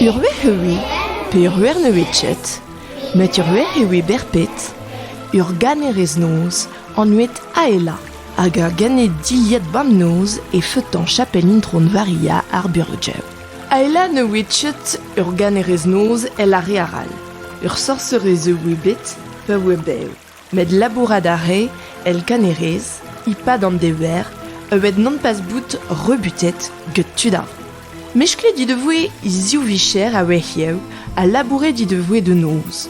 Ur wech eu. pe ur wernevez-chet, met ur wech e oe berpet, ur ganerez-noz anvet Aela hag ur ganer-dilhad bab-noz e feutañ chapel Intron Varia ar Burgeu. Aela ne oe chet ur ganerez-noz el a re arall. Ur sorserez e oe bet pa oe bev. Met labourat a rae el kanerez e-pad an dever evit nompas bout rebutet get tud all. Mesklet he devoe he ziv vicher a-wezhioù ha labouret he devoe da noz.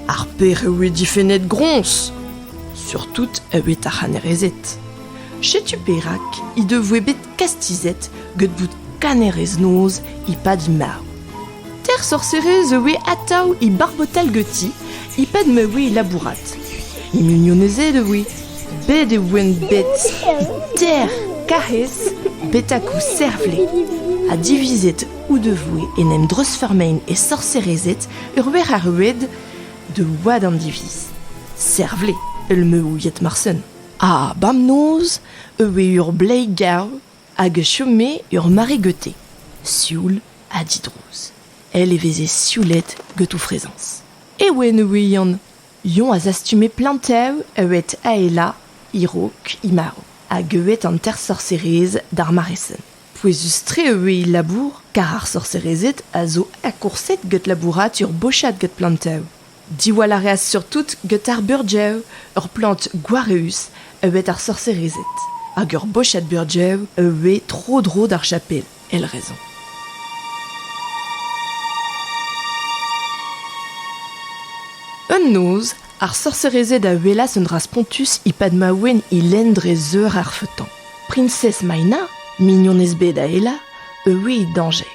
Ar pec'h e oe difennet groñs, surtout evit ar c'hanerezed. Setu perak he devoe bet kastizet get bout kanerez-noz e-pad marv. Teir sorserez a oe atav e barbotal ganti e-pad ma oe e labourat. E mignonezed a oe. Bet e voent bet ter karrez betak o servle. Ha divizet o devoe en em dreuzfeurmein e sorserezed ur wer ar roued da wad an diviz. Servle, el me ouiet marsen. Ha bemnoz e oe eur bleiz garv hag e chome eur mare gete, sioul ha didrouz, èl e veze sioulet get o frezañs. Ewen e oe Yann. Yann a zastume planteù ewed aelañ e-raok he marv hag ewed an teir sorserez d'ar mare-sen. Pouezus-tre e oe he labour, kar ar sorserezed a zo akourset get labourat ur bochad get planteù. Diwall a reas surtout get ar burgeu ur plant gwareüs a vez ar sorserezed hag ur bochad burgeu a vez tro-dro d'ar chapel, èl raison. Un noz, ar sorserezed a welas un dra spontus e-pad ma ouenn e lenn dre zeur ar feutan. Priñsez Maina, mignonez bet Aela, a oe e dañjer.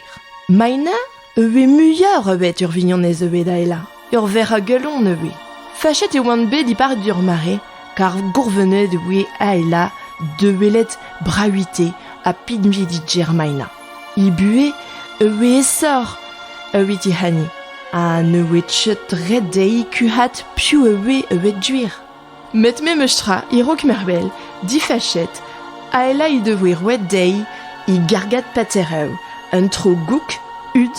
Maina E vez muioc'h a bet ur vignonez eu da elañ, ur verc'h a galon eu Fachet e oant bet e-pad ur mare, kar gourvenet e voe aela da welet Bravité ha pinvidi Germaina. He buhez e voe esoc'h evit he hani, ha ne voe ket ret dezhi kuc'hat piv e voe e duer. Met memestra, e-raok mervel, difachet, Aela he devoe roet dezhi he gargad paterev, un tro gouk, hud,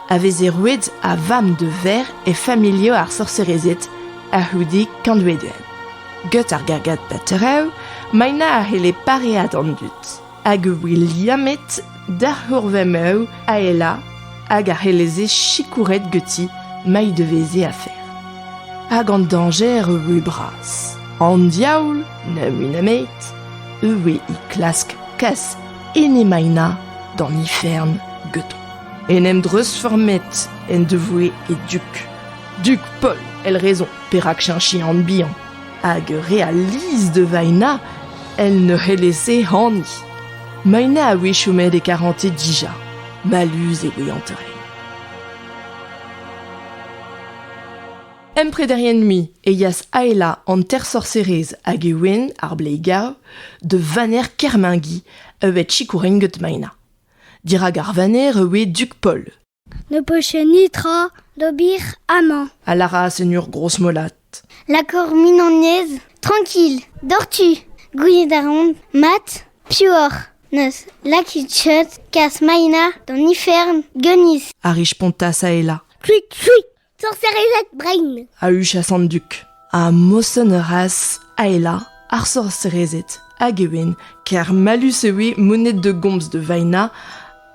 a veze roet a vamm de verr e familhoù ar sorserezed a-c'houde kantvedoù. Get ar gargad paterev, Maina a c'helle pareañ d'an dud. hag e voe liammet da ur vamv Aela hag a c'helleze sikouret ganti ma he deveze afer. Hag an dañjer e voe bras. An diaoul, na mui nemet, e voe e klask kas Enemaina d'an ifern ganto. En em dreuzfurmet en devoe e dug. Dug Paul, el raison perak cheñchi an bihan. hag re a lizh da Vaina el ne c'hellez-se hani. Maina a-wechoù met e karante dija. Mallus e voe an treiñ. Emprederien-mui e yas Aela an tersorserez hag e ouenn, ar bleigav, da vaner Kermingi, evet sikourin get Maina. Dirak ar vaner e oe Dug Paul. Ne poche netra d'ober amañ, a lâras en ur grozmolat. Lakor mignonez, trankil, doc'htu. Gouiet a ran mat piv oc'h. N'eus lakit cheud kas Maina d'an ifern, Geunis. A rispontas Aela. Kuit, fuit. sorserezed brein a huchas an dug ha mosenn a raas aela ar sorserezed hag e oent ker mallus e oe moned da gomz da Vaena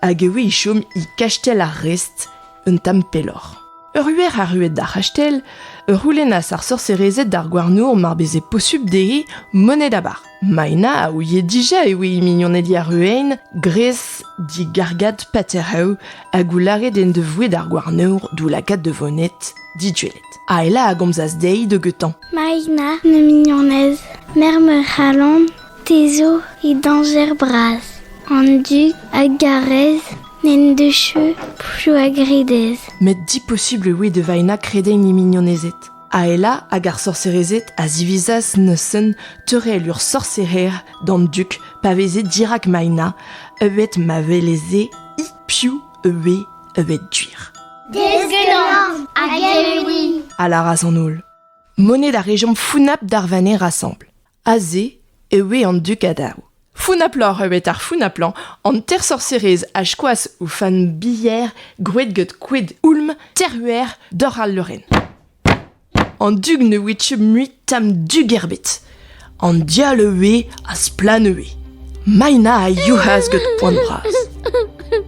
hag e oe e chom e kastell ar Rest un tamm pelloc'h. Ur huer arruet d'ar c'hastell, ur c'houlennas ar sorserezed d'ar gouarnour mar beze posubl dezhe moned abar. Maina a ouie dija e oe he mignoned Yaruain gres digargad Patereu hag o lâret en devoe d'ar gouarnour d'o lakaat da vonet diduellet. Aela a gomzas dezhi deugetañ. Maina, ma mignonez, merc'h ma c'halon, te zo he dañjer bras. An dug a garez n'en deus cheu pchou a gredez. Met diposubl e oe da Vaina kredenn he mignonezed. Aela hag ar sorserezed a zivizas neuzen teurel ur sorserer d'an dug pa veze dirak Maina, evet ma weleze hi piv ivez evet duir. Deskenañ hag eeuiñ! a lâras an holl. Monet a rejomp founap d'ar vaner asambl. Aze e oe an dug a-daou. Founaploc'h eo bet ar founaplan, an tersorserez a skoas o fenn bilher gwraet gant koed houlm terruer doc'h al leurenn. An dug ne oe mui tamm dug ebet. An dial a oe ha splann e oe. Maina a youc'has gant poan bras.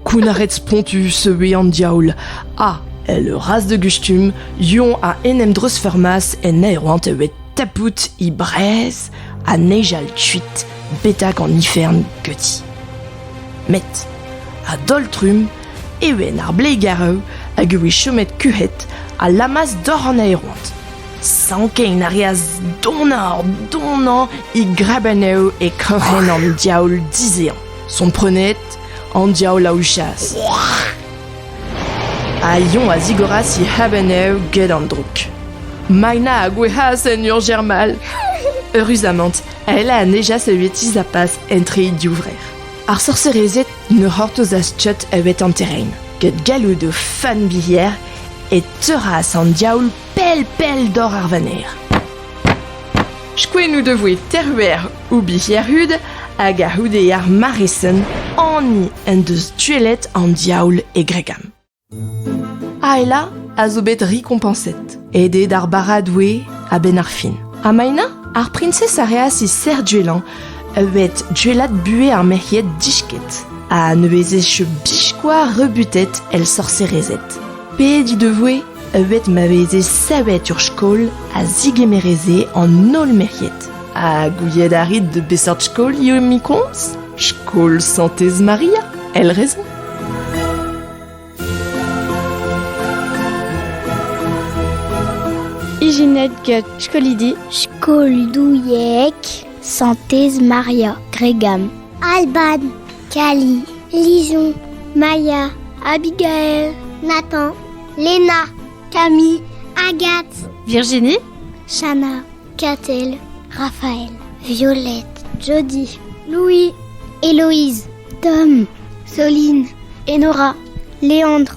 Kounnaret spontus e oe an diaoul, ha, el raz de gustum, Yon a en em dreuzfeurmas en aeroant e oe tapout he brez ha nejal kuit betak an ifern geuti. Met, a-daol-trumm, e oe ar blegareu hag e oe chomet kuc'het ha lamas dor an aeroant. Sankein a reas donoc'h donañ e grebennoù e kroc'hen an diaoul dizehañ. Komprenet, an diaoul a ouchas. Ha Yon a zigoras e c'hrebennoù get an droug. Maina a gouezhas en ur germal. Eüruzamant, Aela a nejas evitiz a pas entre e divrec'h. Ar sorserezed ne c'hortozas tchot evet an terrain, get galloud o fanbilher e teuras an diaoul pell pell doc'h ar vaner. Skoenn o devoe Terver o bic'hirud hag a-c'houde ar maresen hani en deus duellet an diaoul e Gregam. Aela a zo bet rikompañset, aet d'ar bara-doue a-benn ar fin. Ha Maina, ar priñsez a reas he serc'h duellañ, a bet duellat buhez ar merc'hied disket, ha ne vezez biskoaz rebutet el sorserezed. Pet he devoe bet ma veze savet ur skol a zigemereze an holl merc'hed. Ha gouiet a rit de beseurt skolioù emañ komz Skol Santez Maria, el raison Ijinet get skolidi Skol Douieg Santez Maria Gregam Alban Kali, Lison, Maya, Abigail, Nathan, Lena, Camille, Agathe, Virginie, Shana, Catel, Raphaël, Violette, Jody, Louis, Héloïse, Tom, Soline, Enora, Léandre,